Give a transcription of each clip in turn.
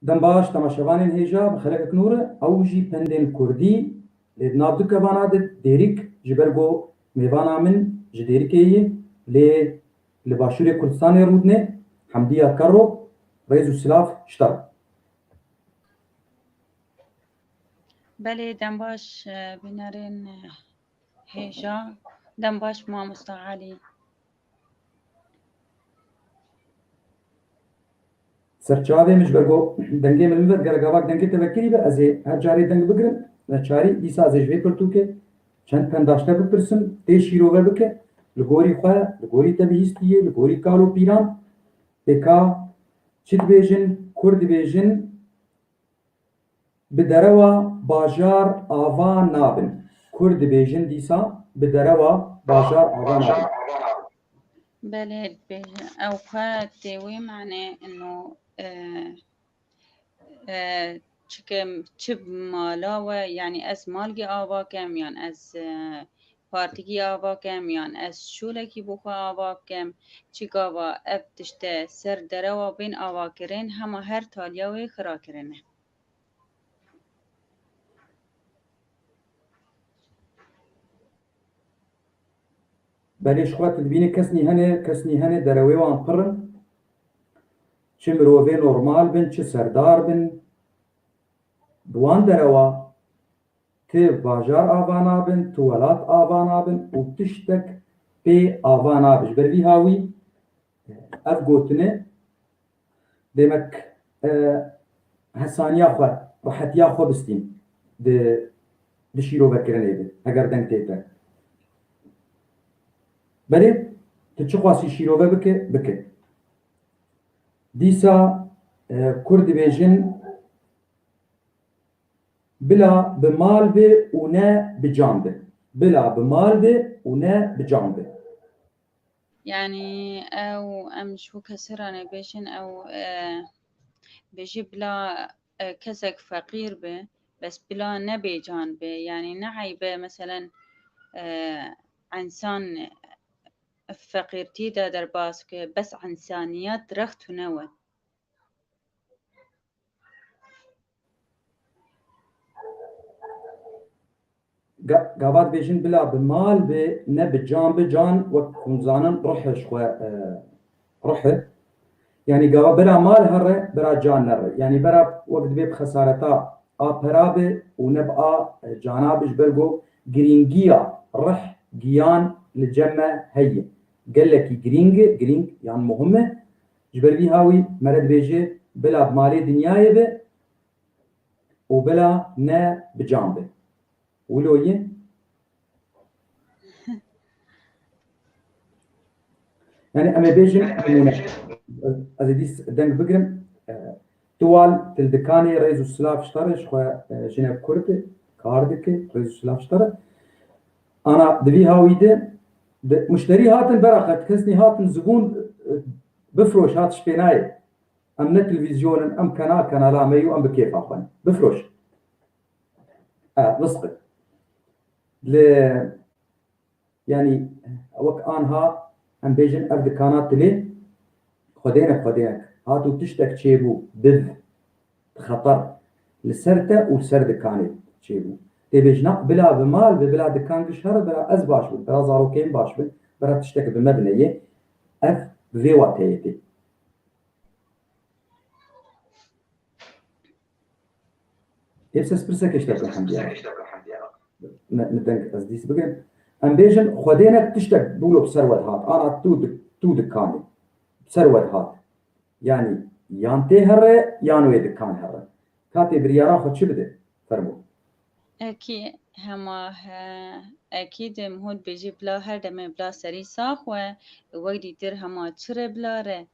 Dem baş temaşevanên hêja bi xelekikin û re ew jî pendên kurdî lê di nav du kevana de dêrik ji ber ku mêvana min ji dêrikê ye lê li başûrê Kurdistanê rûdine Hemdiya Karo rêz û silav şita be. Belê dem baş bînerên hêja. Dem baş mamosta Elî. Serçavê min ji ber ku dengê min bibe digerek gava dengê te vekirî be ez ê her carê deng bigirim neçarî dîsa ez ê ji vê pirtûkê çend pendaşte bipirsim tê şîrove bike li gorî xwe li gorî te bihîstiyê li gorî kal û pîran pêka çi dibêjin kur dibêjin Bi derewa bajar ava nabin. Kurd dibêjin dîsa bi derewa bajar ava nabin. Belê dibêjin. Ew xwe tê wê manê ino çikim çi mala we yanî ez malgê ava kem yan ez Partikî ava kem yan ez şûlekî bo xwe ava bikim, çi gava ev tişte ser derewa bên avakirin hema her taliya wê xira kirine. Belê ji xwe tu dibînî kes nî hene, kes nî hene derewê wan pirr in. Çi mirovê normal bin, çi serdar bin. Bi wan derewa. Ti bajar ava nabin, ti welat ava nabin û tiştek pê ava nabe. Ji ber vî ha wî ev gotinê demek hesaniya xwe, rehetiya xwe bistîn di di şîrovekirinê de heger deng tê te. Belê ti çi xwasî şîrove bike, bike. Dîsa kurd dibêjin. Bila bi mal be û ne bi can be. Bila bi mal be û ne bi can be. Yanî ew em ji bo kesê re nebêjin ew bêjê bila kesek feqîr be bes bila ne bê can be yanî ne eybe meselen ensan feqîrtî de derbas ke bes ensaniyet rext û ne we. Gavat bê jin bila bi mal bi ne bi can bi can wek hûn zanin ruhê ji xwe ruh e. Yanî gava bira mal herre bira can nerre. Yanî bira wek dibê bi xesareta a pera bi û ne bi a cana bi ji ber ku girîngiya ruh giyan li cem me heye. Gelekî girîng e, girîng yan muhim e. Ji ber vîha wî mere dibêje bila bi malê dinyayê be û bila me bi can be. Wilo yin? Yanî em ê bêjin nimûne. Ez ê dîs deng bigirim. Tuwal til dikanê rêz û silav ji te re ji xwe jine kurd kar dike rêz û silav ji te re. Ana di vî hawî de di muşterî hatin bera xwe kesnî hatin zibûn bifiroş hat şpênayê em ne televîzyon in em kena kenala me yo em bi kêfa xwe ne bifiroş e visqe li yanî wek anha em bêjin ev dikana tilê xwedêne xwedêne hat û tiştek çêbû div Xeter li ser te û ser dikanê çêbû. Tê bêjina ku bila bi mal be, bila dikan bi şer be, bila ez baş bim, bila zarokê min baş bin, bila tiştek bi me bine yê. Ev bi vê wateyê tê. Hêv ses pirsekê ji te bikim diyar. Min deng ez dîs bigirim. Em bêjin xwedê ne tiştek bûlo bi ser we dihat. Ana tu tu dikanê bi ser we dihat. Yanî yan tê here yan wê dikan here. Katê biryaran xwe çi bide? Fermo. Ekî hema he. Ekî dê min hûn bêjî bila her demê bila serî sax we. Wek dîtir hema çi re bila re.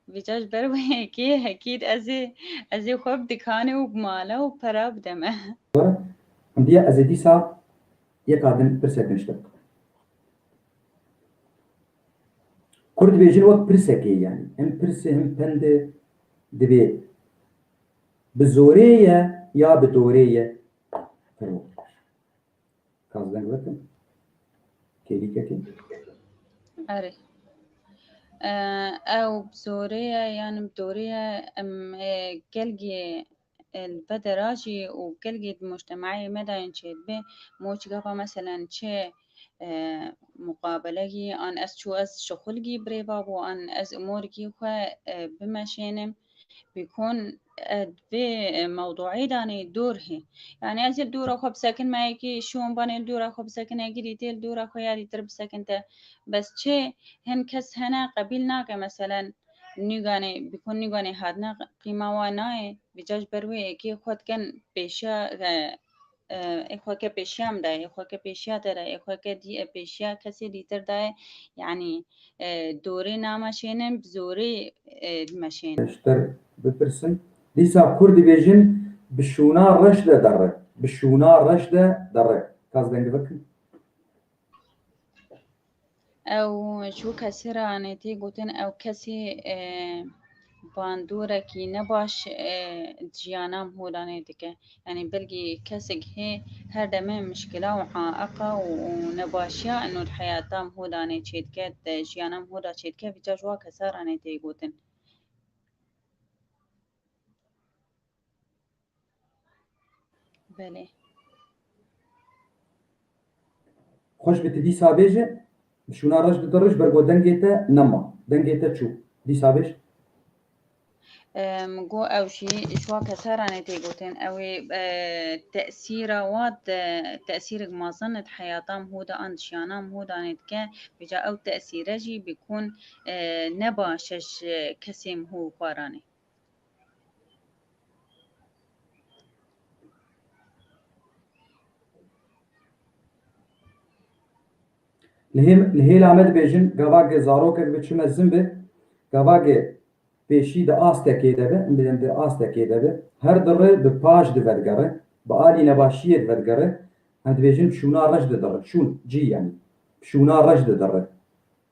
Vîca ji ber wê ekî hekîd ez ê ez ê xwe bi dikanê û bi mala û pera bide me. Were hundiya ez ê dîsa yeka din pirsek din ji te bikim. Kur dibêjin wek pirsekê ye, him pirsê him pendê dibê bi zorê ye ya bi dorê ye firok dibêjin. Kas deng bikin? Kêlîkekê? Erê. Ew bi zorê ye yan bi dorê ye em gelgê بدرا جی û gelgî di mûçtemeyê me de yên çêdibe mûç gava meselen çi muqabelegî an ez çû ez şixulgî birêva bû an ez umorgî xwe bimeşênim bîkon vê mewduî danê dûr hê yani ez ê dûra xwe bisekin me yekî şûn banê dûra xwe bisekin yekî dîtê dûra xwe ya dîtir bisekin te bes çê hin kes hene qebîl nake meselen Nîganê bi ku nîganê hatine qîma wan nayê bîca ji ber wê êkê xwe dikin pêşiya ê xwe ke pêşiya min dayê ê xwe ke pêşiya te dayê ê xwe ke dî e pêşiya kesê dîtir dayê yanî dorê nameşênin bi zorê dimeşênin. Ji te bipirsin dîsa kur dibêjin bi şûna reş de derre bi şûna reş de derre. Kas deng bikin. Ew ji bo kesî re anê tê gotin ew kesî e, bandûrekî ne baş e, jiyana hûranê dike. Yanî belkî kesek hê her demê muşkila û aeqa û û nebaşiya û heyata hûranê çêdike, te jiyana hûra çêdike vî ca ji wa kesaranê tê gotin. Belê. Xweş bi ti dîsa bêje, bi şûna reş di dirij ber ku dengê te nema, dengê te çû. Dîsa bêj. Go ew jî ji wa kesaranê tê gotin ewê e, tesîra wa e, tesîrek mezin di heyata Mhûda an di jiyana Mhûdan ê dike bêca ew tesîre jî bikun e, ne ba şeş e, kesê Mhû xwaranê. Li hê li hêla me dibêjin gavagê zarokek bi çi mezin be, gavagê pêşî di astekê de be, em bêjin di astekê de be, her dire bi paş di vedigere, bi alî nebaşiyê di vedigere, em dibêjin şûna reş didirre, şûn, cî yanî, şûna reş didirre.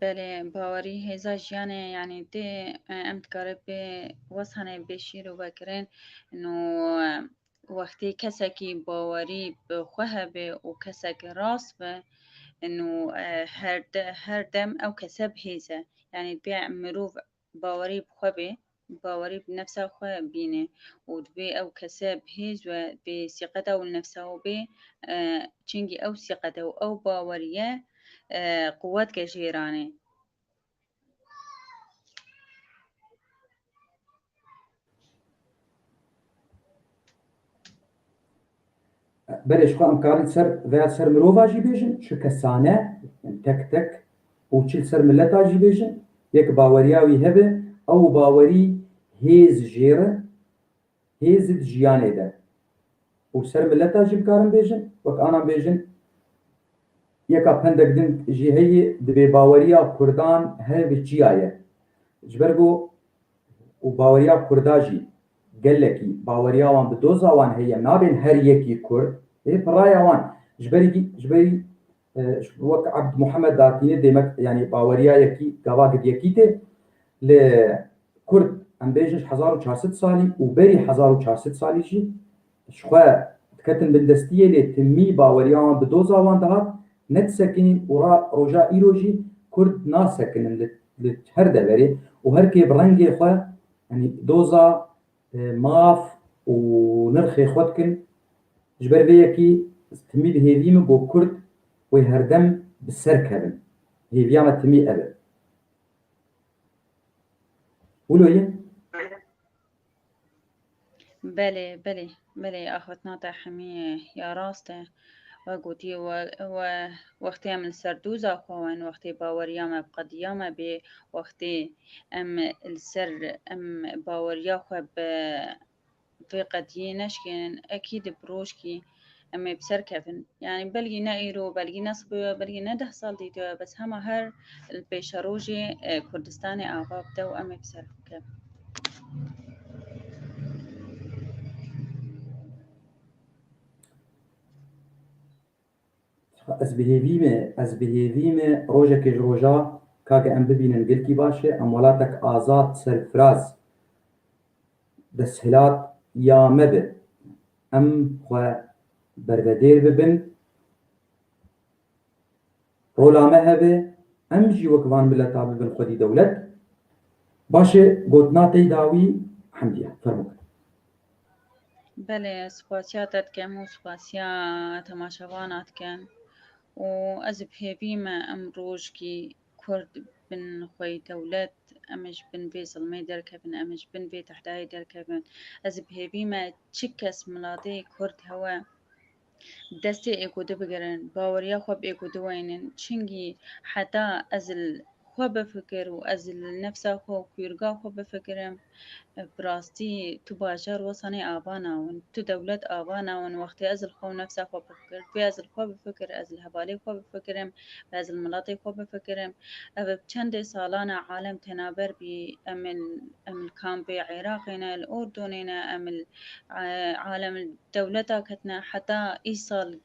Belê bawerî hêza jiyanê yanî tê em dikare pê wesanê bê şîr û vekirin no wextê kesekî bawerî bi xwe hebe û kesekî rast be no her dem ew kese bi hêze yanî pê mirov Bawerî bi xwe bê, bawerî bi nefsa xwe bîne û divê ew kese bi hêz we bê sîqeta û nefsa û bê çingî ew sîqete û ew baweriye quwet ke jêranê. Belê ji xwe em karîn ser veya ser mirova jî bêjin, çi kesane, tek tek û çi li ser mileta jî bêjin, yê ki baweriya wî hebe, ew bawerî hêz jêr e, hêz di jiyanê de. Û li ser mileta jî bikarin bêjin, wek anan bêjin, yeka pendek din jî heye di bêbaweriya kurdan hebe çiya ye? Ji ber ku Û baweriya kurda jî gelekî baweriya wan bi doza wan heye nabên her yekî kurd ê bi raya wan ji berî vî ji berî wek Ebd Muhammed Datînê dê me yanî baweriya yekî gava gidiyekî tê li kurd em bêjin ji hezar û çar sed salî û berî hezar û çar sed salî jî Ji xwe diketin bindestiyê lê timî baweriya wan bi doza wan dihat ne disekinîn û ra roja îro jî Kurd nasekinin li li her deverê û her kê bi rengê xwe yanî doza, maf û nirxê xwe dikin. Ji ber vê yekî ez timî dihêvî min ku Kurd wê herdem bi ser kevin. Hêviya me timî ev e. Wilo ye? Belê, belê, belê axiftina te hemî ya rast e. We gotî we we wextê em li ser doza xwe wen, wextê baweriya me bi qediya me bê, wextê em li ser em baweriya xwe bi vê qediyê neşkênin, ekî di bi rojkî Em ê bi ser kevin. Yanî belgî ne îro, belgî ne siboya, belgî ne deh sal dîtoya bes hema her li pêşerojê e, Kurdistanê ava bide û em ê bi ser xwe kevin. Ez bi hêvî me, ez bi hêvî me rojekê ji roja kake em bibînin gelkî baş e, em welatek azad, serfiraz, desthilat ya me be. Em xwe bervedêr bibin, rola me hebe em jî wek van mileta bibin xwedî dewlet. Baş e gotina te da wî Hemdiye. Fermo kir. Belê ez spasiya te dikem û spasiya temaşevana dikem û ez bi hêvî me em rojikî Kurd bin xwe yî dewlet, em ê ji bin vê zilmê derkevin, em ê ji bin vê tehdayê derkevin. Ez bi hêvî me çi kes miladê Kurd hewe bi destê êkûdî bigirin, baweriya xwe bi êkûdî weynin. Çingî heta ez li xwe bifikir û ez li nefsa xwe û kûyrga xwe bifikirim, Bi rastî tu bajar Wasanê ava nawin. Tu dewlet ava nawin. Wextê ez li xwe û nefsa xwe bifikir, bê ez li xwe bifikir, ez li hevalê xwe bifikirim, bê ez li miletê xwe bifikirim. Ev bi çendê salan e alem tena ber bî. Em li em li kampê Iraqê ne, li Urdunê ne, em li alem li dewleta ketine. Heta îsal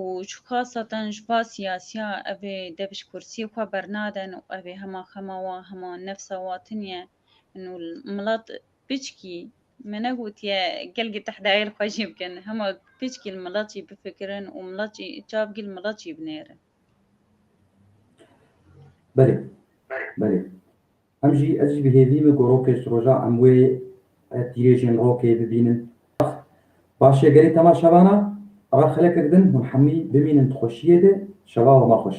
û ji xasa te ji ba siyasiya ev ê dev ji kursiyê xwe bernadin û ev ê hema xema wan hema nefsa wan tuniye in û milat piçkî me negotiye gelgê tehdayê li xwe jê bikin hema piçkî li milat jî bifikirin û milat jî çav bigî li milat jî binêrin. Belê, belê. Em jî, ez jî bi hêvî min ku rokê siroja em wê tîrêjên rokê bibînin. Ax! Baş e gerê tema şevana, ra xelek kirdin hûn hemûî bimînin di xweşiyê de, şeva wema xweş.